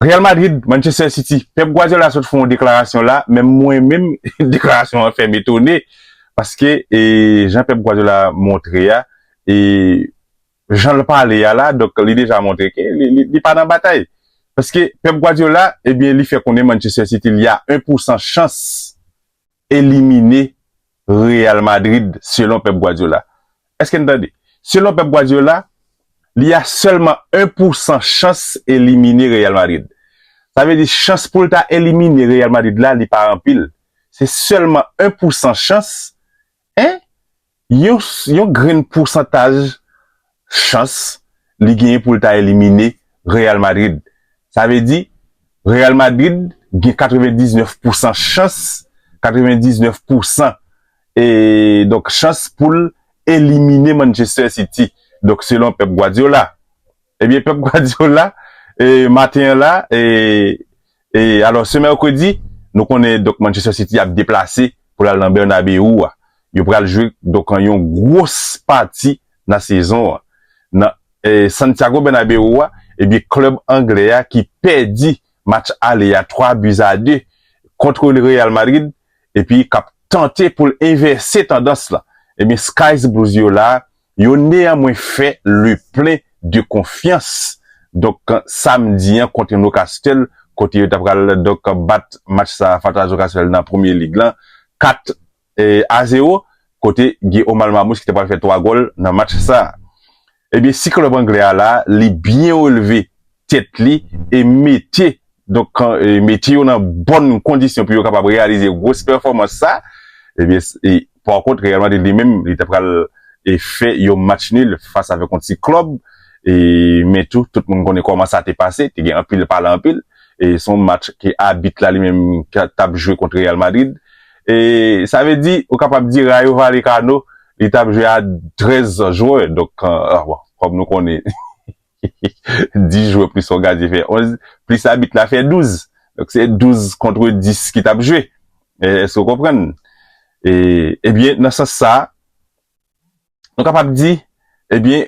Real Madrid, Manchester City, Pep Guardiola sot fè yon deklarasyon la, men mwen menm deklarasyon an fè m etone, paske jan Pep Guardiola montre a, e jan l pale a la, donk li deja montre ke li pa nan batay. Paske Pep Guardiola, ebyen li fè konnen Manchester City li a 1 pousan chans elimine Real Madrid selon Pep Guardiola. Eske n tande? Selon Pep Guardiola, li a sèlman 1 pou 100 chans elimine Real Madrid. Sa vle di chans pou l ta elimine Real Madrid la li pa anpil. Se sèlman 1 pou 100 chans, en, yon grenn pousantaj chans li genyen pou l ta elimine Real Madrid. Sa vle di, Real Madrid gen 99 pousan chans, 99 pousan e donk chans pou l elimine Manchester City, donk selon Pep Guardiola. Ebyen Pep Guardiola e maten an la e e alò se Mercredi nou konnen donk Manchester City ap deplase pou lal nan Bernabeu a yo pral jwe donk an yon gwos pati nan sezon an nan e Santiago Bernabeu a ebyen klub anglè a ki pèdi match ale a 3 buts a 2 kontre le Real Madrid epi kap tante poul envèse tandans lan ebyen Sky's Blues yo la Yo nea mwen fè le plein de konfyans donk samedi an kontre Nocastle kote yo ta pral donk bat match sa fatra Nocastle nan premye lig lan 4 a 0 kote gen Omar Mamouche ki ta pral fè 3 gòl nan match sa ebyen si klub anglè a la li byen releve tèt li e mete donk mete yo nan bòn kondisyon pou yo kapab reyalize gwos pèfòmans sa ebyen pa kont Real Madrid li menm li ta pral fè yon match nil fas avèk yon ti klòb e men tou tout moun konnen kòman sa te pase te gen anpil pale anpil e se yon match ke abit la li menm tap jwe kont Real Madrid e sa vle di ou kapab di Rayo Vallecano li tap jwe a 13 jwè donk bon kòm nou konnen. 10 jwè plis yon gadyen fè 11, plis abit la fè 12. Donk se 12 kontre 10 ki t ap jwe. Èske w konprann? E, ebyen, nan sans sa a, nou kapab di, ebyen,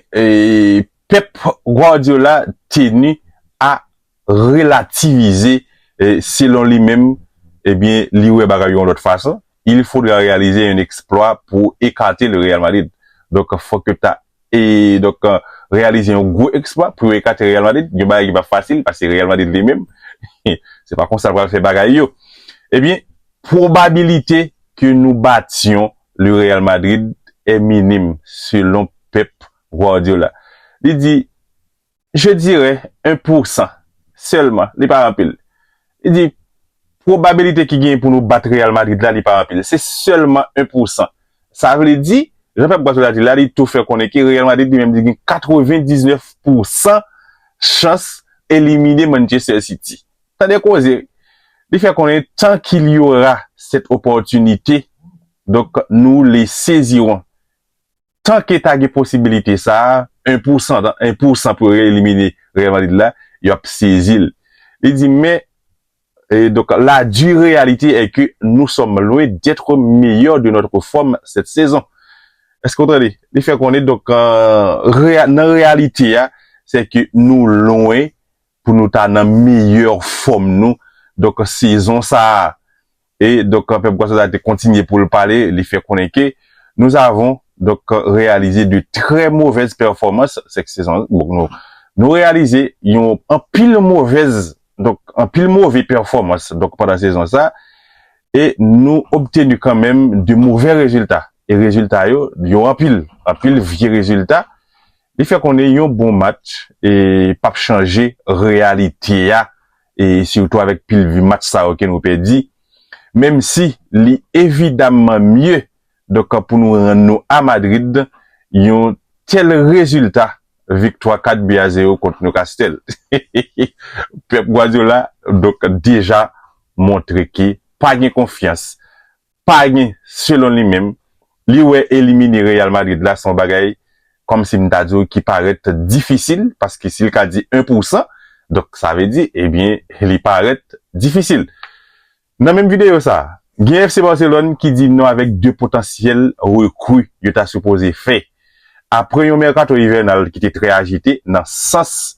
pèp Guardiola teni a relativize selon li menm ebyen li wè bagay yo yon lòt fason, il faudra réaliser un exploit pou ekate le Real Madrid donk fòk yo ta donk reyalize yon gwo eksplwa pou yo ekate Real Madrid yon bagay ki pap fasil paske Real Madrid li menm se pa konsa l pral fè bagay yo ebyen pwobabilite ke nou batyon le Real Madrid è minim selon Pep Guardiola li di. Je dirè 1 pour 100 sèlman, li pa anpil. Li di, Pwobabilite ki genyen pou nou bat Real Madrid la, li pa anpil. Se sèlman 1 pour 100. Sa vle di, jan Pep Guardiola di la, li tou fè konnen ke Real Madrid li menm li gen 99 pour 100 chans elimine Manchester City. Tande koze! Li fè konnen tant qu'il y aura cette opportunité, donk nous les saisirons. tan ke ta gen posibilite sa a, 1 pousan, 1 pousan pou yo re-elimine Real Madrid la, yo ap sezi l. Li di, men, e donk, la dure réalité est que nous sommes loin d'être meilleurs de notre forme cette saison. Èske ou tande? Li fè konnen, donk, nan reyalite a, se ke nou lwen pou nou ta nan meyè fòm nou donk sezon sa a e donk pèp Gwaso sa te kontinye pou l pale li fè konnen ke nous avons donk reyalize de trè movèz pèfòmans sèke sezon nou nou reyalize yon anpil movèz donk anpil move pèfòmans donk pandan sezon sa e nou obtenu kan menm de movè rezilta e rezilta yo yo anpil anpil vye rezilta Li fè konnen yon bon match pap chanje reyalite a e sitou avèk pil vi match sa yo ke nou pèdi menm si li evidamman mye donk pou nou rann nou a Madrid yon tèl rezilta viktwa 4 bi a 0 kont Newcastle Pep Guardiola donk deja montre ke pa gen konfyans pa gen selon li menm, li wè elimine Real Madrid la son bagay kòm si m ta di w ki parèt difisil paske si l ka di 1 pou 100 donk sa vle di ebyen li parèt difisil. Nan menm videyo sa, gen FC Barcelone ki di non avèk 2 potansyèl rekru yo ta sipoze fè apre yon mèkato ivènal ki te trè ajite nan sans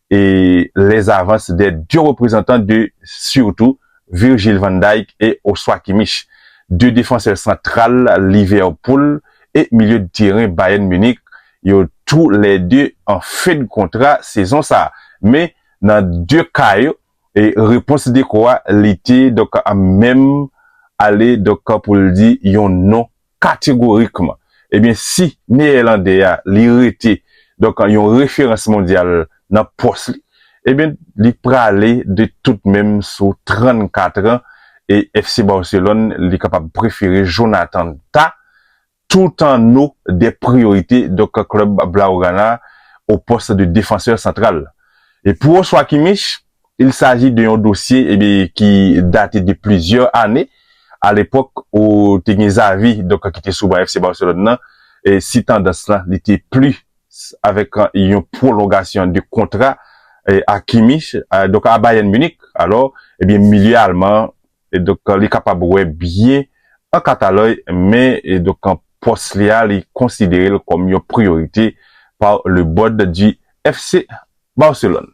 les avances des deux reprezantan de surtout Virgil van Dijk et Joshua Kimmich, deux defansè santral Liverpool et milye de teren Bayern Munich yo tou lè de an fen de kontra sezon sa a. Men nan de ka yo, repons Deco a li te donk menm ale donk pou l di yon non kategorikman ebyen si neeyèlande a li rete donk yon referans mondyal nan pòs li ebyen li prale de tout menm sou 34 an e FC Barcelone li kapab prefere Jonathan Tah tout an no de priyorite donk klub Blaugrana o pòs de defansè santral e pou Joshua Kimmich Il s'agit de yon dosye ebyen ki date de plizyè ane a lepòk ou te gen Xavi donk ki te sou ban FC Barcelone nan si tandans lan li te pli avèk yon pwolongasyon de kontra a Kimmich donk a Bayern Munich alò ebyen milye alman an donk li kapab wè byen an Katalòy men donk pòs li a li konsidere l kòm yon priyorite par le board du FC Barcelone.